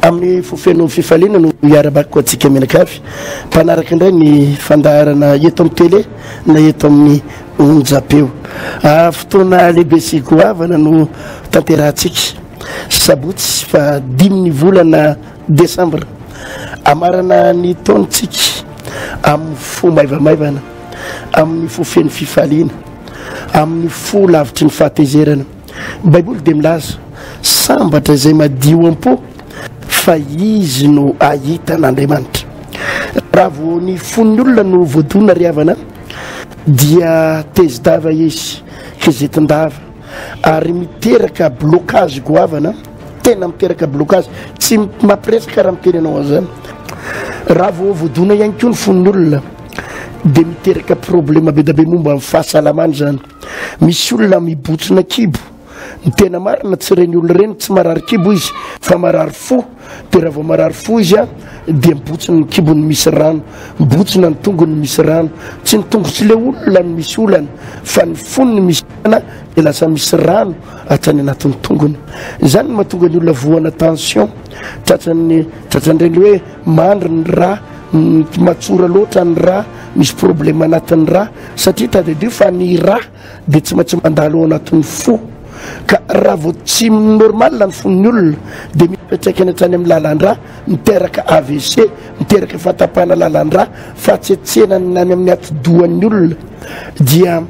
Amin'ny fo feno fifaliana no hiara-bakiko antsika mianakavy mpanaraka indray ny fandaharana eto amin'ny tele na eto amin'ny onjam-peo. Ah, fotoana lehibe sy goavana no tanterahantsika. Sabotsy fa dimy ny volana desambra. Amarana ny taonantsika amin'ny fo maivamaivana, amin'ny fo feno fifaliana. amin'ny fo lavitry ny fahatezerana. Ny Baiboly dia milaza, Sambatra izay madio am-po, fa izy no hahita an'Andriamanitra. Raha vao ny fon'ny olona no voadona ry havana, dia tezi-dava izy, kizitin-dava, ary miteraka blocage goavana, tena miteraka blocage, tsy mampiresaka raha miteny ianao an'izany. Raha vao voadona ihany koa ny fon'ny olona, dia miteraka problema bedabe momba ny fahasalamana izany misy olona mibotsina kibo ny tena marina tsy reny olona ireny tsy marary kibo izy fa marary fo dia raha vao marary fo izy a dia mibotsina ny kibony misy rano mibotsina ny tongony misy rano tsy ny tongo tsy le olona no misy olana fa ny fony ny misy olana dia lasa misy rano hatrany anatin'ny tongony izany no mahatonga ny olona voana tension tratran'ny tratran'ireny hoe Mandry ny rà, mety matsora loatra ny rà, misy problème anatin'ny rà, satria tadidio fa ny rà dia tsy maintsy mandalo ao anatin'ny fo, ka raha vao tsy normal ny fon'ny olona dia misy fiantraikany hatrany amin'ny lalan-drà, miteraka avc, miteraka fahatapahana lalan-drà, fahatsetsenana any amin'ny atidohan'ny olona dia.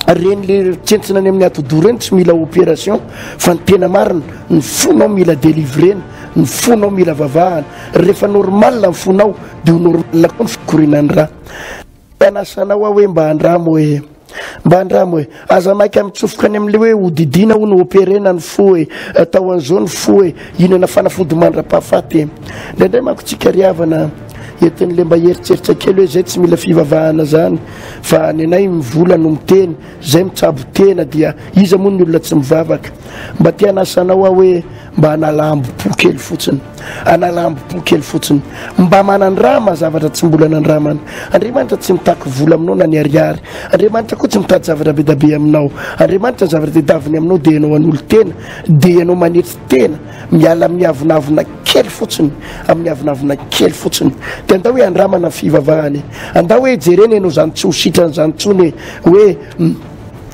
Reny le tsentsina any amin'ny atodoha reny tsy mila opération fa ny tena marina ny fonao mila délivrena ny fonao mila vavahana rehefa normal ny fonao de ho normal koa ny fikorinan'ny ra anasanao aho hoe mba andramo hoe mba andramo hoe aza maika mitsofoka any amin'le hoe hodidina ho ny opérena ny fo hoe atao an'izao ny fo hoe inana fanafody mandra-pahafaty e indraindray manko tsika ry havana etin'le mba heritseritra kely hoe zay tsy mila fivavahana zany Fa ny anay mivola no miteny, zay mitsabo tena dia iza moa ny olona tsy mivavaka? Mba te hanasa anao aho hoe mba hanala ambo-po kely fotsiny. Hanala ambo-po kely fotsiny. Mba manandrama zavatra tsy mbola nandramana. Andriamanitra tsy mitaky vola aminao na ny ariary. Andriamanitra koa tsy mitady zavatra bedabe aminao. Andriamanitra ny zavatra tedaviny aminao dia ianao hanolo-tena, dia ianao manetry tena. Miala amin'ny avonavona kely fotsiny, amin'ny avonavona kely fotsiny. Dia andao hoe andramana ny fivavahana e. Andao hoe jerena ianao izany tsy ho sitrana izany intsony e. Hoe hmm,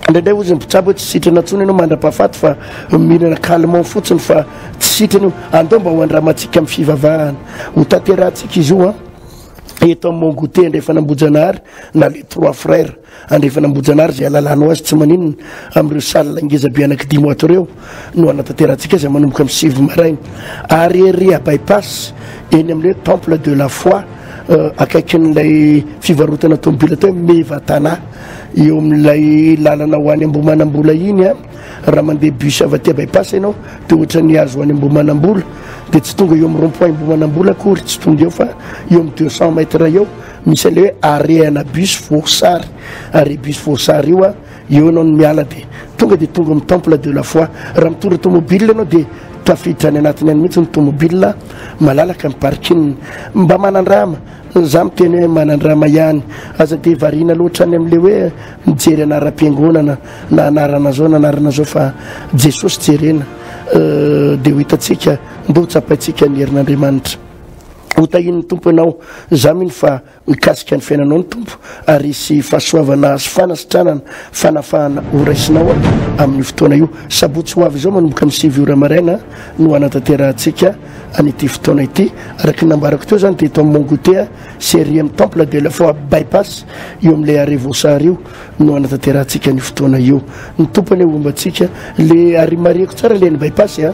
indraindray hozy ny mpitsabo hoe tsy sitrana intsony ianao mandra-pahafaty fa mihinana calmant fotsiny fa tsy sitrana io. Andao mba ho andramantsika amin'ny fivavahana. Ho tanterahantsika izy io an. Eto amin'ny Mont Goûter andrefana Ambohijanahary na les trois frères. Andrefana Ambohijanahary izay alalànao azy tsy maninona amin'ireo salle ngeza be anankidimy ato ireo no hanatanterantsika azy manomboka amin'ny sivy maraina ary ery à bypass eny amin'ilay temple de la foi akaikin'ilay fivarotana tomobila atao hoe Mevatana eo amin'ilay lalana ho any Ambohimanambola iny a raha mandeha bus avy aty à bypass ianao dia ohatra ny azo ho any Ambohimanambola dia tsy tonga eo amin'ny rond point Ambohimanambola akory tsy tonga eo fa eo amin'ny deux cents mètres eo Misy an'le hoe arehana bus voasary, arrêt bus voasary io a, eo ianao no miala dia tonga dia tonga amin'ny temple de la foi. Raha mitondra tomobile ianao dia tafiditra any anatiny any mihitsy ny tomobile, malalaka ny parking. Mba manandrama, za miteny hoe manandrama ihany, aza dia variana loatra any amin'le hoe mijery anaram-piangonana na anarana zao na anarana zao fa Jesosy jerena dia ho hitantsika, ndeha ho tsapaintsika ny herin'Andriamanitra. Hotahian'ny Tompo anao. Za mino fa mikasika ny fiainanao ny Tompo ary hisy fahasoavana sy fanasitranana, fanafahana ho raisinao amin'io fotoana io. Sabotsy ho avy izao manomboka ny sivy ora maraina no hanatanterahantsika an'ity fotoana ity. Araka ny nambarako teo zany dia eto amin'ny Mont Gothée sy ery amin'ny Temple de la Foi Bypass io amin'ilay arrêt Voasary io no hanatanterahantsika an'io fotoana io. Ny Tompo anie homba antsika. Le ary marihiko tsara le ny Bypass a.